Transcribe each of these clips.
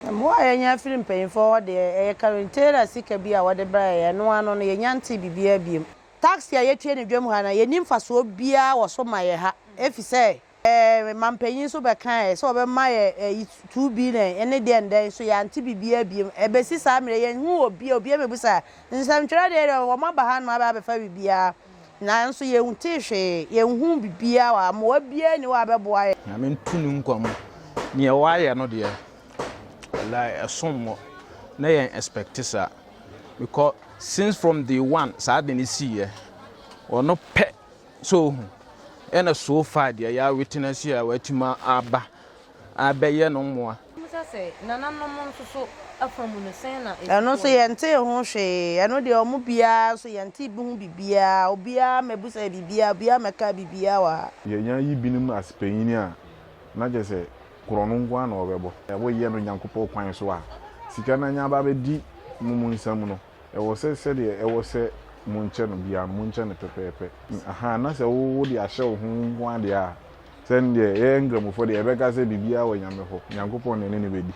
Mmoa a yɛnya firi mpanyimfoɔ hɔ deɛ, ɛyɛ karentera sika bi a wɔde brɛ yɛn, ɛno ano no, yɛnnya ntee biribiara biom. Taksi a yɛtua no dwam ha no, yɛnni mfasoɔ biara wɔ so ma yɛn ha, efisɛ yɛn manpanyin nso bɛkaeɛ sɛ wɔbɛma yɛn ayi two billion ne deɛn dɛn, nso yɛante biribiara biom. Ɛbɛsi saa mmerɛ yi, yɛnhuu obiara, obiara mmɛbusaa nsɛmtwerɛ deɛ, wɔn aba hanom abɛfa biribiara. Nanso yɛntee hwee, yɛnhuu biribiara wɔ ha, mmoa biara nni hɔ a bɛboa yɛn. Nyame ntu no nkwa mu. Neɛ wayɛ no deɛ walayi ɛsom bo na yɛn expect saa because since from day one saa ade no sii yɛ ɔno pɛ sɛ ohu ɛna so far deɛ yɛ witness yɛ a watumi aba abɛyɛ no mmoa. Mobisa sɛ, Nananom nso so afa mu no, sɛn na ɛsi soɔ no? Ɛno nso yɛntee ho hwee. Ɛno deɛ wɔn biara nso yɛntee bi ho biribiara. Obiara mmɛbisaeɛ biribiara, obiara mmɛkaa biribiara wɔ ha. Yɛanya yibinom as panyin a, na kyerɛ sɛ korɔno nko ara na wɔbɛbɔ. Woyɛ no Nyankopɔn kwan so a, sika no anya aba abɛdi mo mu nsam no. Ɛwɔ sɛ sɛdeɛ ɛwɔ sɛ monkyɛ no biara no, monkyɛ no pɛpɛɛpɛ. Ahaa, na sɛ wo wode ahyɛ wo ho nko ara deɛ a, sɛ ndeɛ yɛyɛ Nkramofoɔ deɛ yɛbɛka sɛ biribiara wɔ Nyame hɔ, Nyankopɔn na ɛne no bɛdi.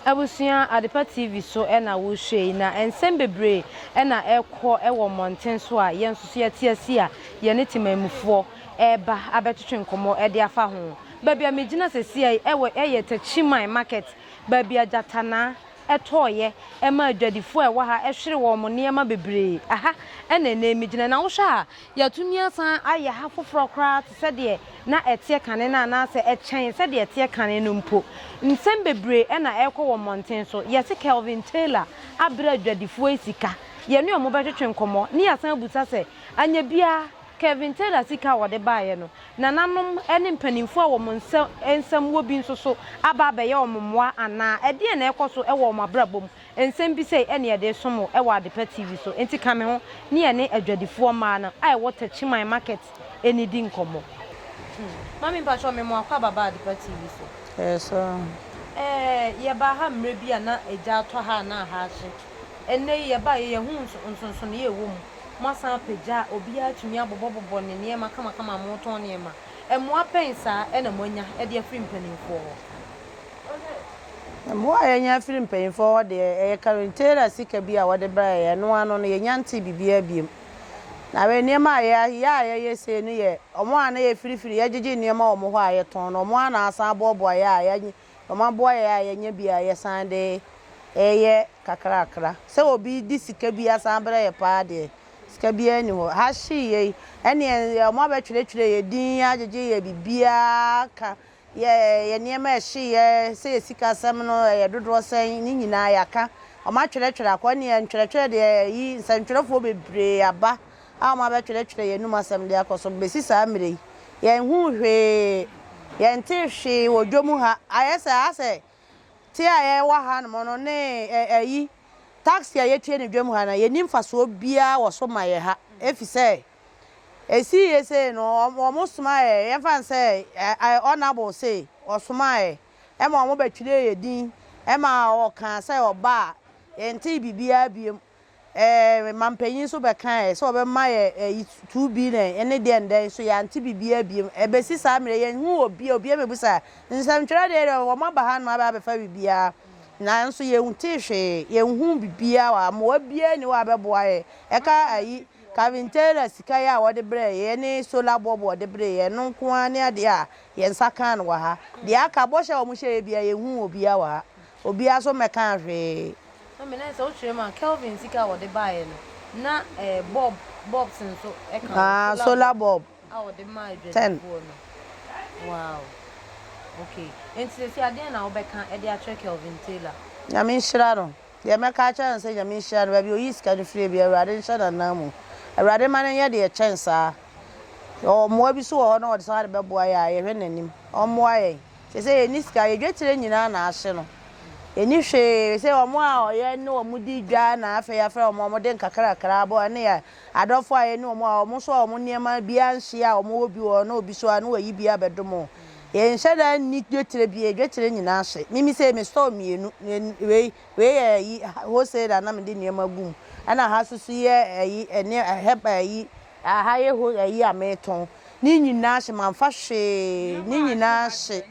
Abusua Adepa TV so na wohwɛ yi, na nsɛm bebree na ɛrekɔ wɔ mmɔnten so a yɛn nso so yɛte ase a yɛne temanmufoɔ reba abɛtwetwe nkɔmmɔ de afa ho. Baabi a megyina sesiɛ yi ɛwɔ ɛyɛ Techiman market baabi a Gyatanaa tɔɔeɛ ɛma adwadifoɔ a ɛwɔ ha ɛhwere wɔn nneɛma bebree. Aha ɛna ɛnɛ yi megyina na wohwɛ a yɛatumi asan ayɛ ha foforɔ koraa te sɛ deɛ na ɛteɛ kane no anaasɛ ɛkyɛn sɛdeɛ ɛteɛ kane no mpo. Nsɛm bebree ɛna ɛrekɔ wɔ mmɔnten so. Yɛse Kelvin Taylor abrɛ adwadifoɔ yi sika. Yɛne wɔn bɛtwetwe nkɔmmɔ ne yɛasan abisa sɛ anyɛ biara Kevin Taylor sika a wɔde baeɛ no, nananom ne mpanimfoɔ a wɔn nsa nsɛm wɔ bi nso so aba abɛyɛ wɔn mmoa anaa? Ɛdeɛn na ɛrekɔ so wɔ wɔn abrabɔ mu? Nsɛm bi sei ne yɛde resom wo wɔ Adepa TV so, enti ka me ho ne yɛne adwadifoɔ mmaa no a ɛwɔ Takyiman Market nnidi nkɔmmɔ. Mami mpakyɛw me moa kwaba ba adepa TV so. Ɛyɛ saa. Ɛɛ yɛ baa ha mmerɛ bi a na egya atɔ ha a na aha ahye. Ɛnnɛ yi yɛ baa yɛ yɛ hu nsonsonoeɛ a ɛwɔ mu. Moasan apagya a obiara atumi abobɔbobɔ ne nneɛma kamakama a moretɔn nneɛma. Mmoa bɛn saa na moanya de afiri mpanimfoɔ hɔ? Mmoa a yɛanya afiri mpanimfoɔ hɔ deɛ, ɛyɛ karentaira sika bi a wɔde brɛɛ yɛn. Ɛno ara no, yɛnnya ntee biribiara bio. Na wei, nneɛma a yɛayɛ a yɛyɛ sei no yɛ wɔn a na yɛfirifiri, yɛgyegye nneɛma wɔ wɔn hɔ a yɛtɔn no, wɔn ara na wɔasan aboaboa yɛn a yɛanya wɔaboa yɛn a yɛanya bi a yɛsan de reyɛ kakrakra. Sɛ obi de sika bi asan abrɛ yɛn paa deɛ, sika biara nni hɔ. Ha hyee yɛ yi, ɛnneɛ wɔabɛtwerɛtwerɛ yɛn din, agyegye yɛn biribiara aka, yɛ yɛn nneɛma a ɛhyee yɛ sɛ yɛ sikasɛm no yɛ dodoɔ sɛn, ne nyinaa yɛaka. Wɔatwerɛtwerɛ akɔ, ɛnneɛ ntwerɛtwerɛ deɛ, ayi, nsɛntwerɛfoɔ bebree aba a wɔabɛtwerɛtwerɛ yɛn anom asɛm de akɔ so bɛsi saa mmerɛ yi. Yɛnhuu hwee, yɛntee hwee wɔ dwa mu ha. Ayɛ sɛ asɛ te a yɛwɔ hanom no ne ayi, taxi a yɛtue no dwa mu ha no, yɛnni mfasoɔ biara wɔ so ma yɛn ha. Ɛfiri sɛ, ɛsiiɛ sei no, wɔsomaa yɛn, yɛmfa no sɛ Honourable sei, ɔsomaa yɛn ma wɔbɛtwerɛɛ yɛn din ma ɔkaa sɛ ɔba a, yɛntee biribiara bio. Ɛɛ, mampanyin nso bɛkae sɛ ɔbɛma yɛ ayi two billion ne deɛn dɛn nso yɛante biribiara biom. Ɛbɛsi saa mmerɛ yi yɛnhuu obiara, obiara mmɛbusa. Nsɛmtwerɛ deɛ deɛ wɔaba ha nom abɛfa biribiara nanso yɛntee hwee, yɛnhuu biribiara wɔ ha, mmoa biara nni hɔ a ɛbɛboa yɛn. Ɛka ayi Calvin Taylor sika yi a wɔde brɛɛ yɛn ne solar bulb a wɔde bree yɛn, ɛno nko ara ne adeɛ a yɛn nsa kaa no wɔ ha. Deɛ aka, bɔhyɛ a wɔhyɛeɛ biara yɛnhuu obiara wɔ ha. Obiara nso mmɛkaa hwee. Na me nan sɛ wo kyerɛ mu a Kelvin sika a wɔde baeɛ no na eh bulb bulbs nso ɛka ho Ah solar bulb a wɔde maa ten. adwadifoɔ no wow okay enti seesei adeɛn na wobɛka ɛde akyerɛ Kelvin Taylor. Nyame nhyira no. Deɛ mɛka akyerɛ no sɛ Nyame nhyira no baabi a ɔyii sika no firie biara Awurade nhyɛ n'anan mu. Awurade mma no nyɛ deɛ ɛkyɛn saa. Yɛwɔ mmoa bi nso wɔ hɔ na wɔde saa de bɛboa yɛn a yɛhwɛ n'anim. Ɔmmoa yɛn. Sesei yɛnni sika, yɛ dwetire nyinaa na ahye no. Yɛnni hwee, sɛ wɔn a yɛne wɔn di dwa na afei yɛafrɛ wɔn a wɔde nkakrakra aboa yɛn, ne yɛn adɔfoɔ a yɛne wɔn a wɔn nso a wɔn nneɛma bi anhye a wɔwɔ bi wɔ hɔ na obi nso a na wayi bi abɛdom wɔn. Yɛnhyɛ da nni dwetire bio, yɛ dwetire nyinaa hye. Me me sei me store mmienu, wei wei yɛ ayi wholesale a na mede nneɛma gu mu, ɛna ha nso so yɛ ayi nneɛ herb ayi Aha yɛ hɔ ayi a metɔn ne nyinaa hye manfa hwee ne nyinaa hye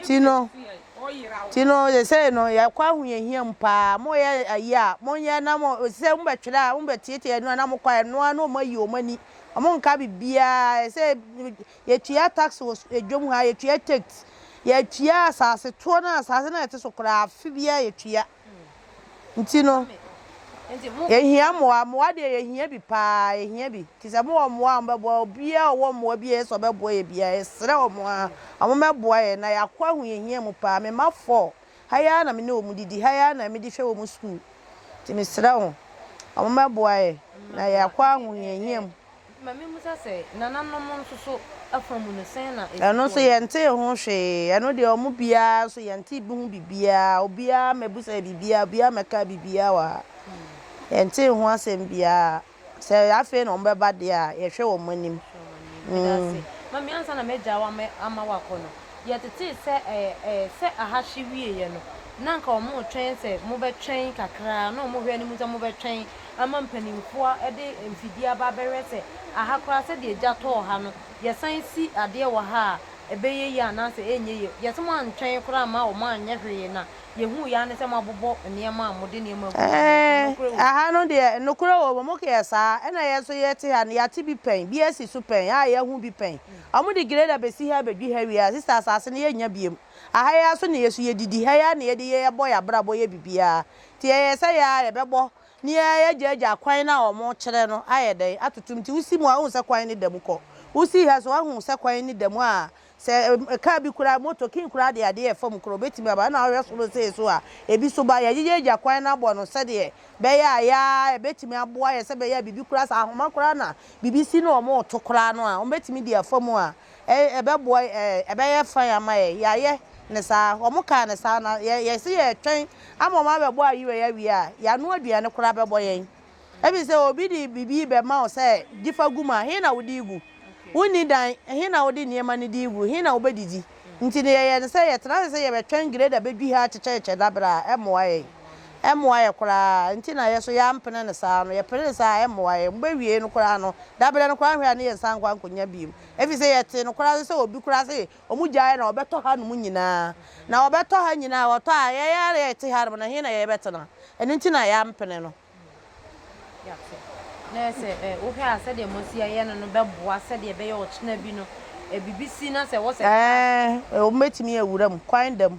ti no ti no sesei no yɛkɔ ahoyɛhia mu paa mo yɛ ayi a mo nyɛ na mo sesei mo bɛtwerɛ a mo bɛtietie ɛno a na mo kɔ ɛno a na ɔmo ayi ɔmo ani ɔmo nka bibiaa ɛsɛ yɛtua tax wɔ edwom ha yɛtua takes yɛtua asase toɔ no asase no a ɛte so koraa afe biaa yɛtua. Nti no, yɛhia mmoa. Mmoa deɛ yɛhia bi paa, yɛhia bi. Nti sɛ mowɔ mmoa a wɔbɛboa, obiara a ɔwɔ mmoa bi a ɛyɛ sɛ ɔbɛboa yɛ biara, yɛsrɛ wɔn ara, wɔmmɛboa yɛn na yɛakɔ ahu yɛn hia mu paa. Me mma four, ha yi ara na me ne wɔn didi, ha yi ara na mede hwɛ wɔn sukuu. Nti mesrɛ wɔn, wɔmmɛboa yɛn na yɛakɔ ahu yɛn hia mu. Ɛno nso yɛntee ho hwee. Ɛno deɛ wɔn biara nso yɛntee bi ho biribiara. Obiara mmɛbisaeɛ biribiara, obiara mmɛkaa biribiara wɔ ha. Yɛntee ho asɛm biara. Sɛ afei na wɔbɛba deɛ a, yɛhwɛ wɔn anim. Mame ansa na m'agya wo ama wo akɔ no yɛtetee sɛ sɛ aha hye wieɛ no na anka wɔn retwɛn sɛ mobɛtwɛn kakra na wɔn hwɛ no mu sɛ mobɛtwɛn ama mpanimfoɔ de mfidie aba abɛhwɛ sɛ aha koraa sɛdeɛ gya tɔɔ ha no, yɛsan si adeɛ wɔ ha a, ɛbɛyɛ yie anaasɛ ɛrenyɛ yie. Yɛse moantwɛn koraa amma wɔanyɛ hwee na yɛhuui ara ne sɛ moabobɔ nneɛma a mode nneɛma agu mu no, so nokorɛ wɔ mu? Aha no deɛ, nokorɛ wɔ mu. Mokeyɛ saa a, ɛna yɛn nso yɛte ha no, yɛate bi pɛn, bi asi so pɛn, a yɛahu bi pɛn. Wɔde grader bɛsi ha bɛdwi ha wie a, sista, asase no yɛnnya biom. Aha yi ara so na yɛsu, yɛdidi, ha yi ara na yɛdi, yɛbɔ yɛn abrabɔ, yɛ biribiara. Nti ɛyɛ sɛ yɛ ara yɛbɛbɔ ne yɛ ara yɛagyaagyaa kwan no a wɔkyerɛ no ayɛ dɛn atoto mu. Nti wosi mu a wohu sɛ kwan no da mu kɔ. Wosi ha nso a woahu sɛ kwan no da mu a sɛ car bi koraa, motor, king koraa de adeɛ a ɛfam koraa ɔbɛtumi aba. Ɛna wohwɛ soro sei nso a ɛbi nso ba. Yɛagyaagyaa kwan no abɔ no sɛdeɛ ɛbɛyɛ a yɛ ara ɛbɛtumi aboa yɛ sɛ ɛbɛyɛ a biribi koraa, sɛ ahoma koraa na biribi si na wɔreto koraa no a wɔbɛtumi de afa mu a Ɛɛ, ɛbɛboa yɛn. Ɛɛ, ɛbɛyɛ fine ama yɛn. Yɛayɛ no saa. Wɔkaa no saa, na yɛ, yɛse yɛretwɛn ama wɔabɛbɔ ayera yi awie a, yɛano aduane koraa bɛbɔ yɛn. Efisɛ obi de biribi rebɛma wo sɛ gye fa gu mu a, he na wode regu? Wonni dan, he na wode nneɛma no de regu? He na wobɛdidi? Nti no, yɛyɛ no sɛ yɛtena ase sɛ yɛbɛtwɛn grader bɛdwihɛ akyekyɛkyekyɛ dabere a, ɛmmoa yɛn. Ɛmmoa yɛ koraa, nti na yɛ so yɛampene no saa no, yɛpene no saa a ɛmmoa yɛ, mobɛwiei no koraa no, daberɛ no koraa hwɛ a ne yɛnsan nkɔ ankɔnya biom, ɛfiri sɛ yɛtee nokorɛ ase sɛ obi koraa se wɔgyaeɛ na wɔbɛtɔ hanom nyinaa, na wɔbɛtɔ ha nyinaa, wɔtɔ a yɛn ara yɛte hanom no he na yɛbɛtena, ɛno nti na yɛampene no. Yɛate. Na sɛ wohwɛ a sɛdeɛ moasi ayɛ no no bɛboa sɛdeɛ ɛbɛyɛ ɔkyena bi no biribi si na sɛ wɔ sɛ cars. Ɛɛ, wɔbɛtumi awura mu, kwan da mu.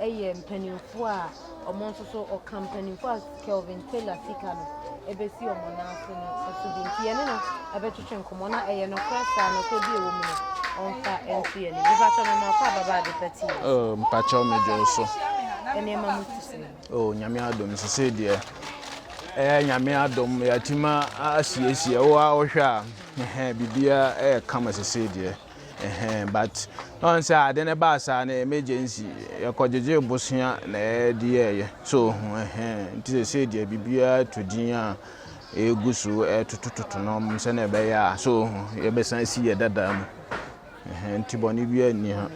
yɛ mpanimfoɔ a wɔn nso so wɔka mpanimfoɔ a Kelvin Taylor sika no bɛsi wɔn nan ase no so bi nti yɛne no bɛtwetwe nkɔmmɔ na ɛyɛ nokorɛ saa nokorɛ bi ɛwɔ mu no ɔmfa nto yɛn anim mpakyɛ no maakɔ ababa ade pa ti oh, mpakyɛ medwo so nneɛma mu te sɛ oh, nyame adom sɛ sɛ deɛ ɛyɛ nyame adom yɛatumi asiesie wo a wohwɛ a biribiara ɛyɛ kama sɛ sɛ deɛ Ɛhɛn but na ɔn sɛ ade no baa saa no emergency yɛkɔ gyegyee bosea na yɛde yɛɛyɛ so ohu ɛhɛn nti sɛsei deɛ biribiara to din a egu so ɛtotototo no ɔmo sɛ na ɛbɛyɛ a so ohu yɛbɛsan si yɛ dada mu ɛhɛn nti bɔne biara nni ha.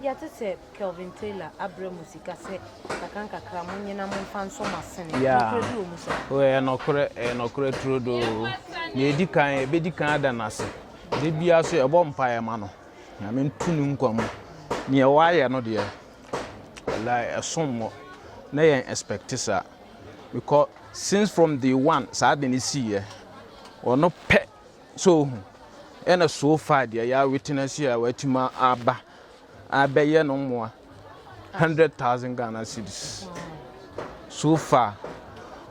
Yɛate sɛ Kelvin Taylor abrɛ mo sika sɛ nkakrankakra mo nyɛ na momfa nsɔ mo asene. Yeah. Nokorɛ bi wɔ mu saa? Ɛyɛ nɔkorɛ, ɛyɛ nɔkorɛ turodoo. Nea edi kan, yɛbɛdi kan ada no ase. Da biara nso yɛbɔ mpaeɛ ma no nyame ntu no nkwa mu neɛ wayɛ no deɛ wallahi ɛsom mo na yɛn expect saa because since from day one saa de ne siiɛ ɔno pɛ so ohu ɛna so far deɛ yɛ witness a watuma aba abɛyɛ no mmoa 100,000 Ghana cedis so far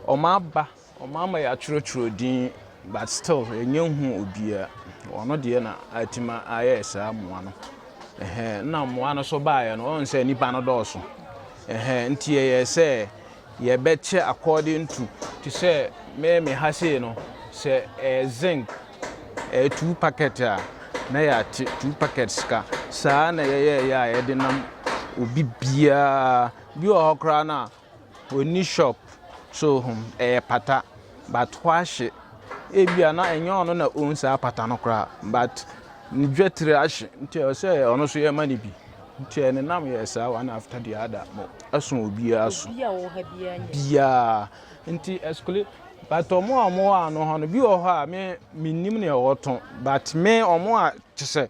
ɔma aba Wɔama yɛatwerɛtwerɛ din but still yɛnnya nhuu obiara. Ɔno deɛ na atumi ayɛ saa mmoa no. Ɛhɛn, nna mmoa no so baeɛ no, ɔhu sɛ nnipa no dɔɔso. Ɛhɛn, nti yɛyɛɛ sɛ yɛbɛkyɛ according to, te sɛ me me ha sei no, sɛ ɛyɛ zinc, ɛyɛ two packet a, na yɛate two packets ka. Saa na yɛyɛɛyɛ a yɛde nam obi biara. Bi wɔ hɔ koraa no a, Onni shop so hom ɛyɛ pata but ɔahye ebia na nnyɛ ɔno na own saa pata no koraa but ne dwetr ahye ntsi ɔsɛ ɔno so yɛma no bi ntsi ɛne nam yɛ saa one after the other mo ɛso obiara so biara ntsi ɛskli but ɔmo a ɔmo wɔ ano hɔ no bi wɔ hɔ a me mennim nea ɔtɔn but me ɔmo a kyesɛ.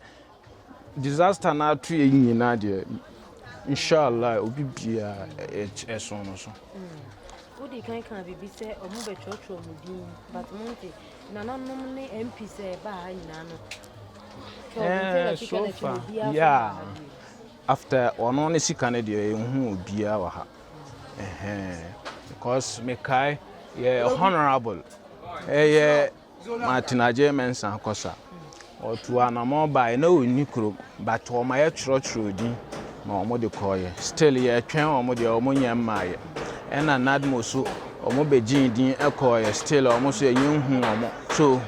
Disaster no atoɛ nyina deɛ inshallah obi bia ɛso no so. Wodi kan kan bibi sɛ ɔmo bɛ kyerɛkyerɛ ɔmo din but mo nti nananom ne MP sɛ ɛba ha nyinaa no. Ɛɛ eh, so far yeah after ɔno ne sika no deɛ ehu obiara wɔ ha. Ɛhɛn because mekae yɛ honourable ɛyɛ. Eh, Martin Adjei Mensah Kossa. Wɔtuu anamɔn baeɛ na wɔnni kurom but wɔayɛ twerɛtwerɛ din na wɔde kɔeɛ. Still yɛtwɛn wɔn deɛ wɔn nyɛ mmaeɛ. Ɛna Nadmo so wɔn bɛgyee din kɔeɛ still wɔn nso yɛnyɛ nhu wɔn. So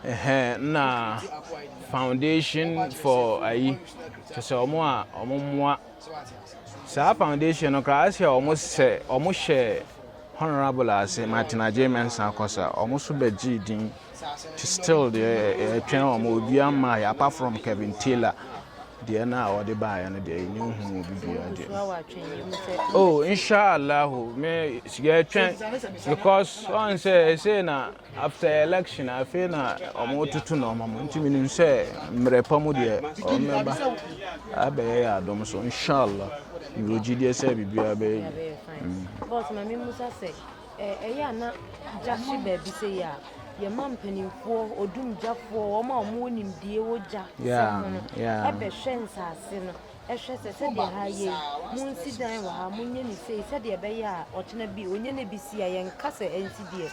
ɛhɛ na foundation for ayi kyɛ sɛ wɔn a wɔn mmoa saa foundation no koraa sɛ wɔn sɛ wɔn hyɛ Honourable ase ma tena gyee mɛnsa akɔ sa wɔn nso bɛ gyee din ti still deɛ yɛtwɛn wɔn obia mmaa yɛ apart from Kevin Taylor deɛ na wɔde baa yɛ no deɛ yɛ nyɛ hu obi bia deɛ oh inshallah me yɛtwɛn because wɔn sɛ ɛsɛ na After election afei na ɔmo tutu nneɛma mu nti menim sɛ mmerɛ pa mu deɛ ɔmmɛba abɛyɛ yɛ adom so inshallah mewɔ gyidie sɛ biribiara bɛyɛ yie. Mm. Boss ma me musa sɛ ɛyɛ a na gya hye baabi sɛ yɛ a yɛma mpanimfoɔ odumgyafoɔ wɔn a wɔn nimdie wɔ gya sɛ ho no ɛbɛhwɛ nsaase no Hwɛ sɛ, sɛdeɛ ha yɛ yi, monsi dan wɔ ha, monyɛ no sei, sɛdeɛ ɛbɛyɛ a ɔkyena bi ɔnya no bi si a, yɛnka sɛ ɛnti deɛ.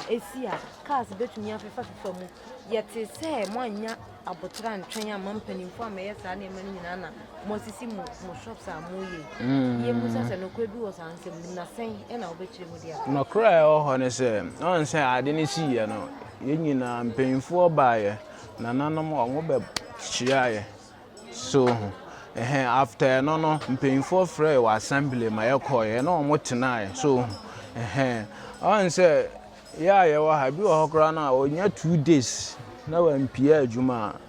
Ɛsi a, cars bɛtumi afefafefa mu. Yɛtee sɛ moannya aboterɛ antwɛn amma mpanimfoɔ ammɛyɛ saa nneɛma no nyinaa na moasisi mo mo shops a moyɛ yi. Mm. Yɛmmisa sɛ nokorɛ bi wɔ saa nsɛm no na sɛn ɛna wobɛkyerɛ mu de aba? Nokorɛ a ɛwɔ hɔ ne sɛ, ɔn sɛ ade no siiɛ no, yɛn nyinaa mpanimfoɔ baeɛ, nananom wɔn bɛhyiaeɛ, So ho. Ɛhɛn, after ɛno no, mpanyimfoɔ frɛɛ wɔ assembly ma yɛkɔɔeɛ na wɔn tenaeɛ. So ho. Ɛhɛn. Ɔn sɛ, yɛ a yɛwɔ ha, bi wɔ hɔ koraa no a, ɔnya two days na wampia adwuma a,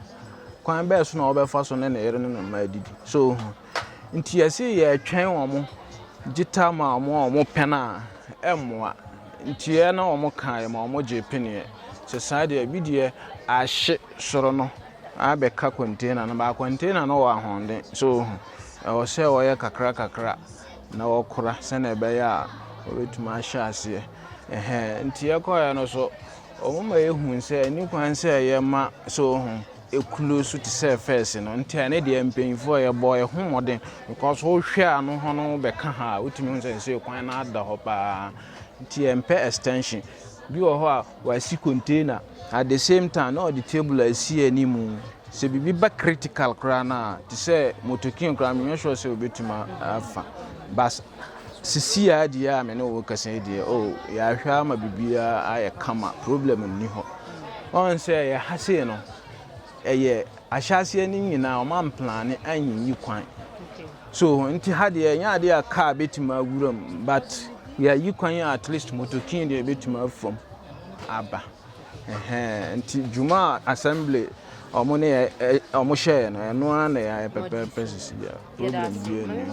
kwan bɛɛ so na ɔbɛfa so ne ne yere ne ne mma adidi. So ho. Nti yɛse yɛtwɛn wɔn, gye tam a wɔn a wɔn pɛn a, ɛmmoa. Nti yɛ na wɔn kaeɛ ma wɔn gyee peneɛ. Sɛ saa deɛ, bi deɛ ahye soro no abɛka container no baa container no wɔ ahoɔden so ɛwɔ sɛ wɔyɛ kakra kakra na wɔkora sɛnea ɛbɛyɛ a wɔbɛtumi ahyɛ aseɛ ɛhɛn nti ɛkɔɛ no so wɔn ma ehu sɛ ɛni kwan sɛ ɛyɛ ma so ho ekuro so te sɛ fɛs no nti ɛne deɛ mpanyinfoɔ yɛ bɔ ɛho mmɔden because wohwɛ a no ho no bɛka ha a wotumi ho sɛ nsuo kwan no ada hɔ paa nti ɛmpɛ extension Bi wɔ hɔ a wasi container at the same time na ɔde table asi anim. Sɛ biribi ba critical koraa no a, te sɛ motokin koraa menyɛ sure sɛ obetumi afa. But sisi a deɛ a me ne wo kasa yi deɛ, oh, yɛahwɛ ama biribiara ayɛ kama, problem nni hɔ. Ɔn sɛ yɛha sei no, ɛyɛ Ahyɛaseɛ no nyinaa wɔn amplane anyiyi kwan so nti ha deɛ ɛnyɛ adeɛ a car bɛtumi awura mu but yɛayi kwan a at least motokin deɛ ɛbɛtumi afam aba nti dwuma a assembly wɔn ne wɔn hyɛɛ no ɛno ara na yɛayɛ pɛpɛɛpɛ sisi bia problem bi ɛni.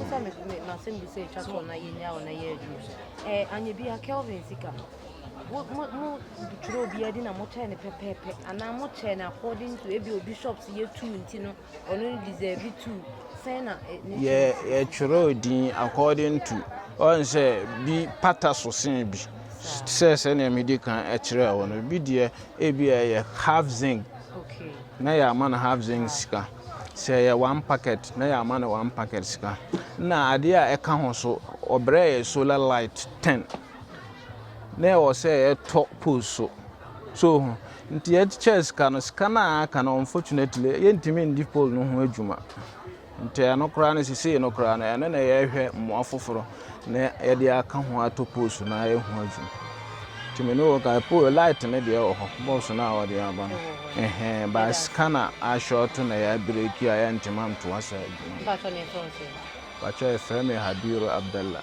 mo mo mo kyerɛ obiara din na mo kyerɛ no pɛpɛɛpɛ anaa mo kyerɛ no according to ebi obi shop si yɛ two nti no ɔno no deserve two sɛn na. yɛ yɛ kyerɛ odin according to ɔn sɛ bi pata so sen bi sɛ sɛnea mi di kan ɛkyerɛ wɔn no bi deɛ ebi ɛyɛ half zinc na yɛ ama no half zinc sika sɛ ɛyɛ one packet na yɛ ama no one packet sika na adeɛ a ɛka ho so ɔbrɛ yɛ solar light ten. na ɛwɔ sɛ yɛtɔ post so so ho nti yɛkyekyɛ sika no sika no a aka no unfortunately yɛntumi ndi poll no ho adwuma nti ɛno koraa no sisei no koraa no ɛno na yɛhwɛ mmoa foforɔ na yɛde aka ho ato post no ayɛ ho adwuma nti me ne wɔ ka poll light no deɛ wɔ hɔ box no a wɔde aba no ɛhɛn ba sika na ahyɛ ɔto na yɛabreki a yɛntumi antoa so adwuma patwɛ ɛfrɛ me habiru abdallah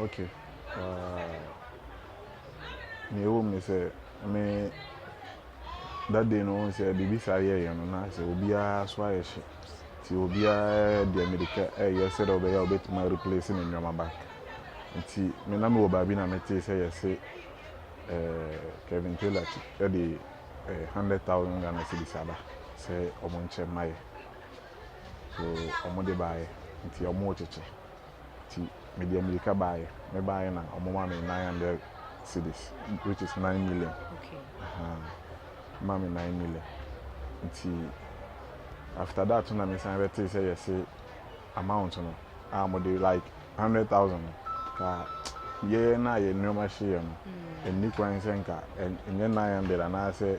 Okay. Uh, nea ɛwɔ mu ne sɛ me that day no wɔn sɛ biribi saa yɛɛyɛ no na sɛ obiara so ayɛ hye nti obiara deɛ mmirika ɛyɛ sɛ dɛ ɔbɛyɛ a ɔbɛtumi replace ne nneɛma back nti me na mewɔ baabi na metee sɛ yɛse eh, Kevin Taylor de eh, hundred thousand Ghana cedis aba sɛ wɔn nkyɛn mma yɛ so wɔn de baayɛ nti wɔn rekyekyɛ. Nti mede amirika baeɛ. Me baeɛ na wɔma me 900 cedis, which is 9 million. Okay. Uh-huh. Ma me 9 million. Nti after that na me san bɛte sɛ yɛse amount no a mode like 100,000 ka yɛyɛ na yɛ nneɛma hyeeɛ no ɛnni mm. kwan sɛ nka ɛnyɛ 900 anaasɛ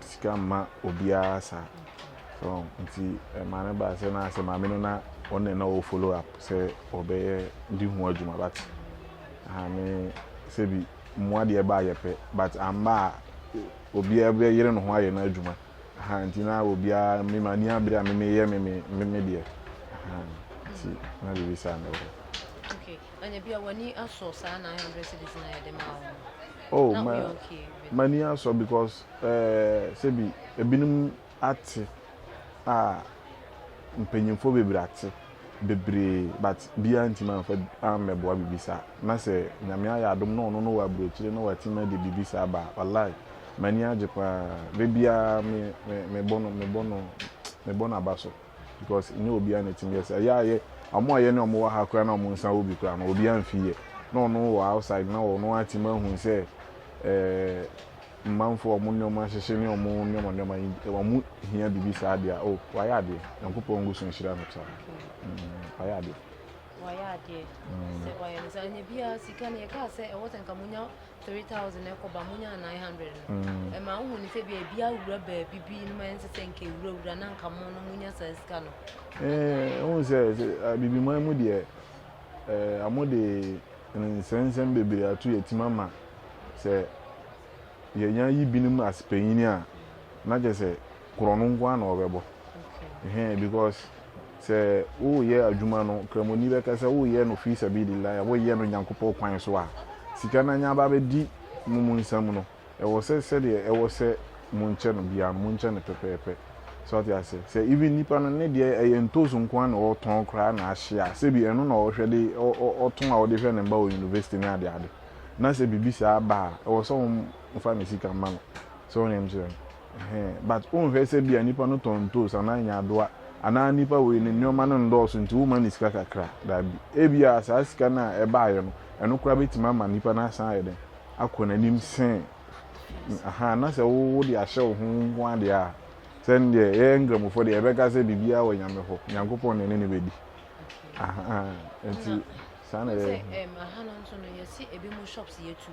sika mma obiara saa. So wɔn nti ɛma no baa sɛ na sɛ maame no na wɔn na na wɔ follow up sɛ wɔbɛyɛ di ho adwuma but aha me sɛ bi mmoa deɛ ɛbaa yɛ pɛ but amma a obiara bɛyere ne ho ayɛ no adwuma aha nti na obiara me ma ni abere a me meyɛ me me me deɛ aha nti na biribi saa na ɛwɔ. Anya bia wani asɔ saa 900 cities na yɛde maa wo no. Oh, na woyɛ okay. Mani asɔ because eh, sɛbi ebinom ate a mpanyinfoɔ bebree ate bebree but biara ntumi amfa ammɛboa biribi saa. Na sɛ Nyame ayɛ adom na ɔno no wɔ aburokyire na watumi ade biribi saa ba a, walayi m'ani agye paa. Da biara me, me, mebɔ no, mebɔ no, mebɔ no aba so. because ɛnyɛ obiara na ɛtumi yɛ saa ɛyɛ ayɛ wɔn a yɛne wɔn wɔ ha koraa na wɔn nsa wɔ bi koraa no obiara mfi yɛ na ɔno wɔ outside na ɔno atumi ahu sɛ ɛɛ mmanfo wɔn nneɛma ahyehyɛ ne wɔn nneɛma nneɛma yi wɔn hia biribi saa deɛ o oh, wayɛ adeɛ nyankopɔn ngu so nhyira no saa mm, wayɛ adeɛ. wayɛ adeɛ mm. sɛ wayɛ no saa nyɛ biara sika no yɛkaa sɛ ɛwɔ sɛ nka monya three thousand ɛkɔ ba mo nya nine hundred no mm. ɛma wohu ne sɛ bia ebi awura baabi bi no ma ɛnsɛ sɛ nka ewurawura na nka mo no mo nya saa sika no. ɛɛ eh, wohu sɛ abibiman mu deɛ ɛɛ eh, amo de nsɛnsɛm bebree ato yɛ tim ama sɛ yɛnya yi binom asepanyini a na kyɛ sɛ. korɔno nko ara na wɔbɛbɔ. Ɛhɛn, because sɛ woreyɛ adwuma no, Kramoni bɛka sɛ woreyɛ no fi sabilillah, woreyɛ no Nyankopɔn kwan so a, sika no anya aba abɛdi mo mo nsam no, ɛwɔ sɛ sɛdeɛ ɛwɔ sɛ monkyɛ no biara no, monkyɛ no pɛpɛɛpɛ. So ate aseɛ? Sɛ even nnipa no, ne deɛ ɛyɛ ntoosi nko ara na ɔtɔn koraa na ahye a, sɛbi ɛno na ɔhwɛ de, ɔtɔn a ɔde hwɛ ne mma wɔ university ne adeade, na sɛ biribi saa ba a, ɛwɔ sɛ wɔmfa ne sika ma no. So wonim sɛ. Ɛhɛɛ but wonhwɛ sɛ bia nipa no tɔn ntoos anaa nyadoa anaa nipa wei no nnoɔma no ndɔɔso nti woma no sika kakra daabi ebia saa sika no a ɛbaayɛ no ɛno koraa bɛtumi ama nipa no asan ayɛ dɛn akɔ nanim sɛn ahaa na sɛ wo wode ahyɛ wo ho nko adeɛ a sɛ ndeɛ yɛyɛ nkramofoɔ deɛ yɛbɛka sɛ biribiara wɔ nyame hɔ nyankopɔn na ɛne ne bɛdi ahaa nti saa na yɛyɛ. Sɛ ɛm aha no nso no yɛsi ebi mo shops yɛ tuu.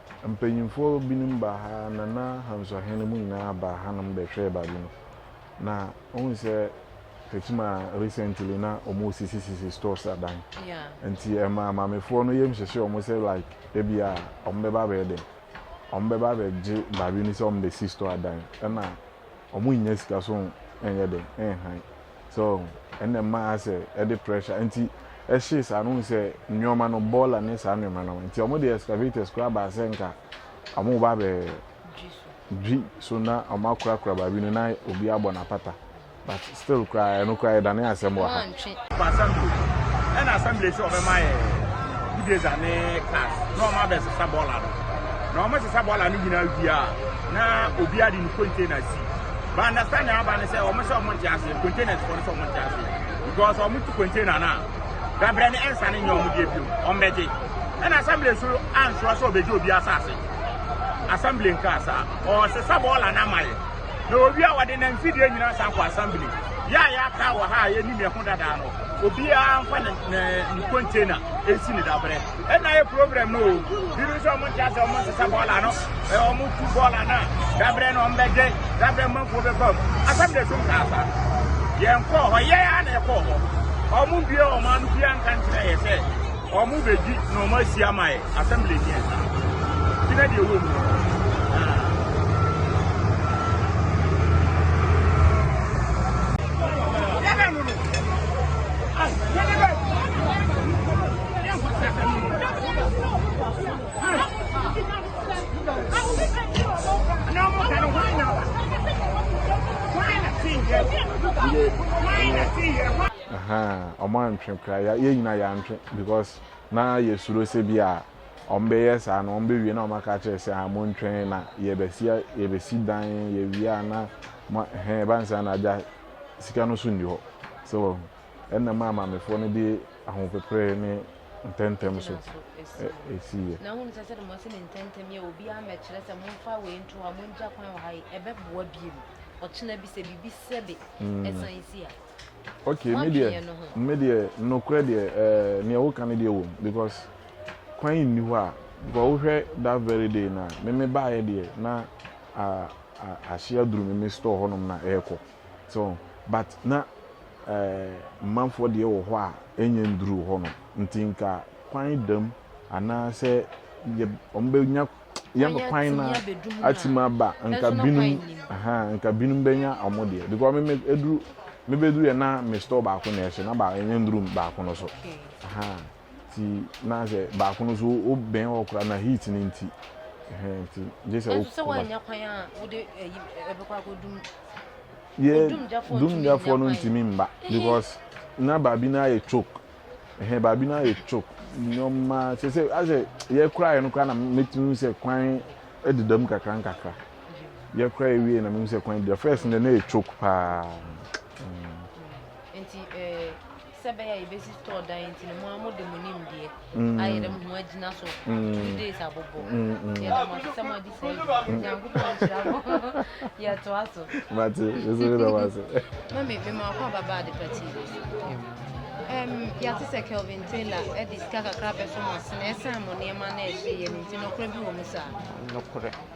Mpanyimfoɔ binom baa ha na na Hansuahen mu nyinaa baa hanom bɛhwɛɛ baabi no. Na wohu sɛ Fatima recently na wɔresisisisi stores adan. Nti ɛmaa maamefoɔ no yam hyehye wɔn sɛ like ebia wɔbɛba abɛyɛ dɛn? Wɔbɛba abɛgye baabi no sɛ wɔbɛsi store adan. Ɛna wɔnnya sika so nyɛ dɛn nhan. So ɛna ɛma asɛ ɛde pressure nti ɛhyee saa no wohu sɛ nneɛma no bɔɔla ne saa nneɛma no nti wɔn de excavators koraa baa sɛ nka wɔn ba bɛ dwi so na wɔn akorakora baabi no na obi abɔ n'apata but still koraa ɛno koraa ɛdane asɛm wɔ ha. ɛna assembly sɛ wɔbɛma yɛ budeza ne class na wɔn abɛsesa bɔɔla no na wɔn sesa bɔɔla no nyinaa wie a na obi ade ne container si But understanding aba ne sɛ wɔn sɛ wɔn nte aseɛ, containers fɔ no sɛ wɔn nte aseɛ. Because wɔn tu container no a, dabrɛ ne ɛnsa ne nyɛ wɔn deɛ bio, wɔn bɛgye. Ɛna assembly so ansoɔ sɛ ɔbɛgye obi asase. Assembly nkaa saa, ɔsesa bɔɔla no ama yɛ. Na obi a wɔde na mfidie nyinaa san kɔ assembly. Yɛ a yɛaka wɔ ha a yɛnim yɛ ho dadaa no, obiara mfa ne, ne, ne container ɛnsi ne dabrɛ. ɛna yɛ problem no o binom nso ɔmo nte ase ɔmo nsesa bɔɔla no ɛɛ ɔmo tu bɔɔla no a dabrɛ no ɔmo bɛgye dabrɛ mmanfoɔ bɛba mu asɛm na ɛtum kaa saa yɛn kɔɔ hɔ yɛn a na ɛkɔɔ hɔ ɔmo bie ɔmo ano bia nka nkyerɛ yɛ sɛ ɔmo bɛgyi na ɔmo asi ama yɛ asɛm na ɛnyɛ saa ti na deɛ ɛwɔ mu ɔmo antwe kora yɛ yɛ nyina yɛantwe because na yɛsuro sɛ bi a ɔmo bɛyɛ saa na ɔmo bɛwie na ɔmo aka kyerɛ sɛ a montwɛn na yɛbɛsi yɛbɛsi dan yɛwie a na mo hɛn ɛba ne saa na agya sika no so nni hɔ sɛ wahu. ɛnam a maamefoɔ no de ahopoprɛ ne ntɛmntɛm so siiɛ. Na wohunu sɛ sɛde moasi no ntɛmntɛm yi a obiara mmɛkyerɛ sɛ momfa wei nto hɔ a mongya kwan wɔ ha yi, ɛbɛboa biom ɔkyena bi sɛ biribi sɛbe ɛsan si a. Ok, me deɛ nokorɛ deɛ neɛ woka no deɛ wɔ mu because kwan nni hɔ a because wohwɛ that very day na meme baeɛ deɛ na ahye aduru meme store hɔnom na ɛrekɔ. So but na eh manfoɔ deɛ wɔ hɔ a ɛnyɛ nduruu hɔ no nti nka kwan da mu anaa sɛ yɛ wɔn bɛ nya yɛn Kwan kwan atumi na abɛdu mu na atimi aba nka personal binom kwan nim. ahaa nka binom bɛ nya wɔn deɛ because me me ɛduru me bɛ duru yɛ na me store baako na ɛhye na ba ɛnyɛ nduruu baako no so Okay. ahaa. nti na sɛ baako no so o bɛn hɔ koraa na heat no nti ɛhɛn nti gye sɛ o. sɛ wɔanya kwan a wode ɛyi ɛbɛkɔ akɔdum. yɛ dumgyafoɔ no ntumi mba because na baabi no ayɛ chok ɛhɛn baabi no ayɛ chok nneɛma sɛ sɛ asɛ yɛkora yɛ no koraa na mɛtumi sɛ kwan ɛdeda mu kakra nkakra yɛkora yɛ wie na mɛtumi sɛ kwan ɛdeda first na na yɛ chok paa. nti ɛɛ. Sɛ ɛbɛyɛ a yɛbɛsi store dan yi nti no, mo ara mode mo nimdeɛ mm. ayɛ dɛ mo ho agyina so mm. two days abobɔ. Mm, yɛda mo ase sɛ mo agye saa adwuma no. Nyankopɔn nhyira mo. Yɛtoa so. Mate, yɛsɛ me da mo ase. Mami, me maako ababa ade pati yi so. Yɛate sɛ Kelvin Taylor de sika kakra bɛfam ase na ɛsan mo nneɛma na ɛhye yɛ no nti, nokorɛ bi wɔ mu saa? Nokorɛ.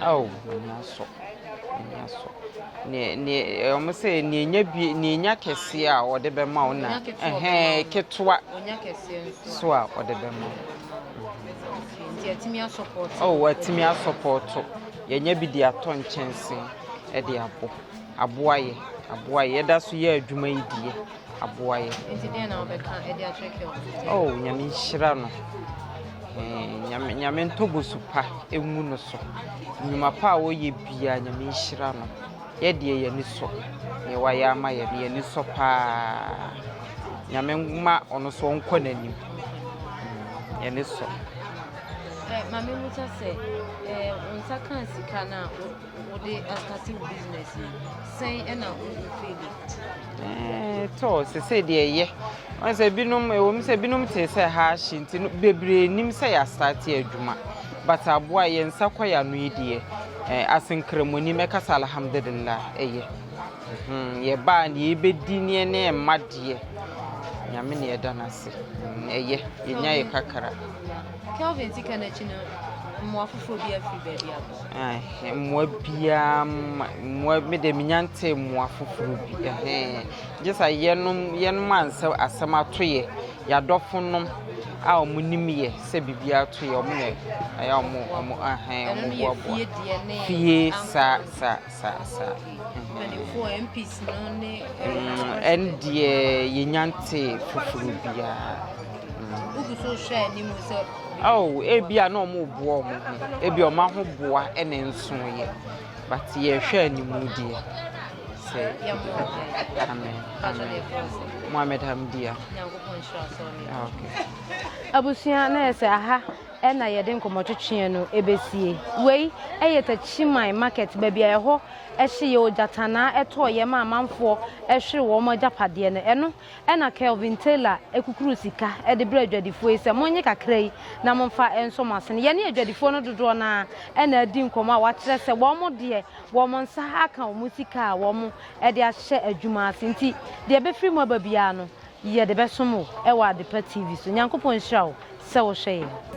Ao, m'ani asɔ, m'ani asɔ. Neɛ neɛ eh, wɔn sɛ neɛ nya bie neɛ nya kɛseɛ a wɔde bɛma wo na ɛhɛn ketewa so a wɔde bɛma wo. Oh, watumi asɔpɔɔto. Yɛnya bi de atɔ nkyɛnse de abɔ. Aboa yɛ, aboa yɛ. Yɛda so yɛ adwuma yi deɛ. aboa yɛ. Nti deɛ na wobɛka ɛde akyerɛ kɛ ɔmo. Oh nyame nhyira no. Eh, nyame nyame ntɔ bosu pa emu no so. Nnwuma pa a ɔyɛ bia nyame nhyira no. Yɛ deɛ yɛ ani sɔ. Deɛ wayɛ ama yɛ no yɛ ani sɔ paa. Nyame ma ɔno so ɔnkɔ n'anim. Mm, yɛ ani sɔ. Eh, mame mu kyɛ sɛ, eh, nsa kaa sika na Wode astate wo business yi, sɛn na wo feel it? Ɛɛ eh, tɔ sese deɛ ɛyɛ wɔn sɛ binom ɛwɔ mu sɛ binom te sɛ ha ahye nti no bebree nim sɛ yɛ astate adwuma but aboa yɛn nsa kɔ yɛ ano yi deɛ ɛɛ eh, asenkremoni mɛka sɛ alhamdulillah ɛyɛ hmm, yɛ baa ne yɛbɛdi neɛ ne ɛma deɛ nyame ne ɛda no ase hmm, ɛyɛ yɛnya yɛ kakra Kelvin ti ka n'akyi no mmoa foforɔ bi afiri baabi aba Ɛhɛn, mbowa biara mma, mbowa me dze minnya ntsee mbowa fofor bi, ɛhɛn. Gyesɛ yɛnom, yɛnom a nsɛ asɛm ato yɛ, yadɔfo nom a ɔmo nim yɛ sɛ biribi ato yɛ ɔmo na ɔyɛ a ɔmo, ɔmo ɛhɛn ɔmo boaboa. Fie, saa saa. Ɛndeɛ yɛnnya ntee foforɔ biara. Ebia na wɔreboa wɔn ho, ebia wɔn ahoboa na ɛnsonoeɛ. But yɛrehwɛ anim deɛ, sɛ Amen, Amen. Mohammed Hamdia. Abusua na yɛ sɛ aha na yɛde nkɔmmɔtwetweɛ no bɛsie. Wei yɛ Takyiman Market, baabi a ɛhɔ hye yɛ ogyatanaa ɛtɔɔ yam a amanfoɔ hwere wɔn agyapadeɛ no. Ɛno na Kelvin Taylor kukuru sika de brɛɛ adwadifoɔ yi sɛ, Monnye kakra yi na momfa nsɔ mo asene. Yɛne adwadifoɔ no dodoɔ no ara na adi nkɔmmɔ a wɔakyerɛ sɛ wɔn deɛ, wɔn nsa aka wɔn sika a wɔde ahyɛ adwuma ase nti, deɛ ɛbɛfiri mu aba biara no, Yɛde bɛsom wo wɔ Adepa TV so. Nyankopɔn nhyira wo sɛ wohwɛ yɛn.